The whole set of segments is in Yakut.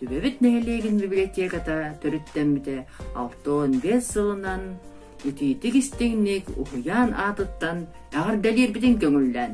Түбэбит нэһилиэгин библиотеката төрүттэммитэ алта уон биэс сылынан итиитик-истиҥник уһуйаан аатыттан эҕэрдэлиирбитин көҥүллээн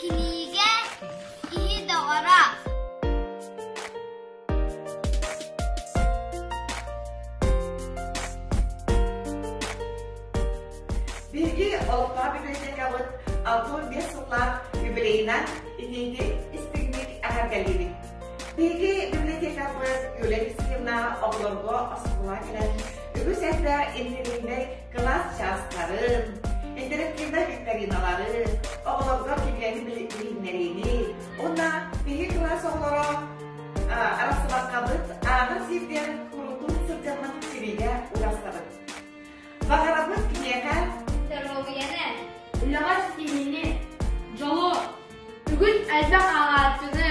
Кинигэ киһи доҕоро Биһиги Олохтоох библиотекабыт албын биэс сыллаах юбилейынан инэйди истиҥник эһэргэлиибит. Биһиги библиотекабыт Юлия Алексеевна оҕолорго оскуола кэлэн үгүс эрдэ интеллигентнэй Кылаас чаастарын, интерактивнай викториналары, оҕолорго кинилэри билиһиннэриини уонна биһи кылаас оҕолоро арахсыбаккабыт ааҕын сирдэр курутун сылдьаммыт сибиигэ урастабыт. Баҕарабыт киниэхэ доруобуйаны, үлэҕэр синиини, дьолу, бүгүн элбэх ааҕааччыны,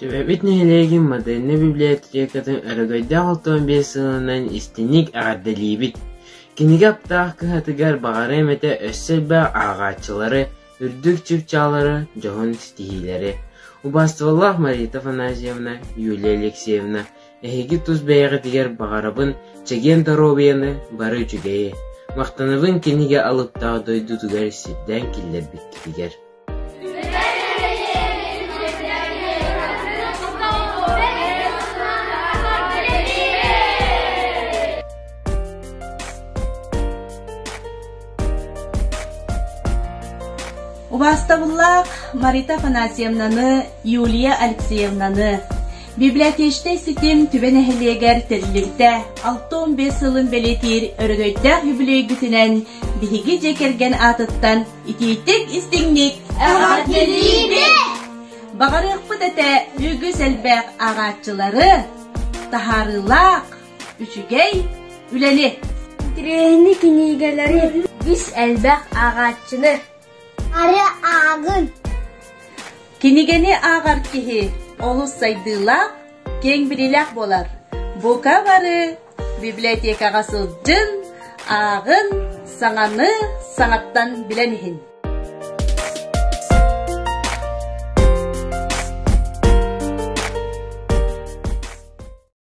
Төрөөбүт нэһилиэгин модельнай библиотекатын өрөгөйдөөх автомобиль сыананан истиҥник эҕэрдэлиибит! Кинигэ аптаах кыһатыгар баҕарыам этэ өссө элбэх ааҕааччылары, үрдүк чыпчааллары, дьоһун ситиһиилэри. Убаастыбаллаах Марита Афанасьевна, Юлия Алексеевна, эһиги тус бэйэҕитигэр баҕарабын чэгиэн доруобуйаны, бары үчүгэйи! Махтанабын кинигэ алыптаах дойдутугар сирдээн киллэрбиккитигэр! Убастабыллаах Марита Афанасьевнаны, Юлия Алексеевнаны библиотечнай ситим түбэ нэһилиэгэр тэрилирдэ алтон бес сылын бэлэтиир өрөгөйдөөх юбилейгитинэн биһиги дьэ кэргэн аатыттан Итиитик истиҥник эҕэрдэлиибит! Баҕарыахпыт этэ үгүс элбэх ааҕааччылары, таһаарыылаах, үчүгэй үлэни! Трени кинигэлэри үгүс элбэх ааҕааччыны ары ааҕын. Кинигэни ааҕар киһи олус сайдыылаах, киэҥ билиилээх буолар. Бука бары Библиотекаҕа сылдьын, ааҕын, саҥаны саҥаттан билэн иһин.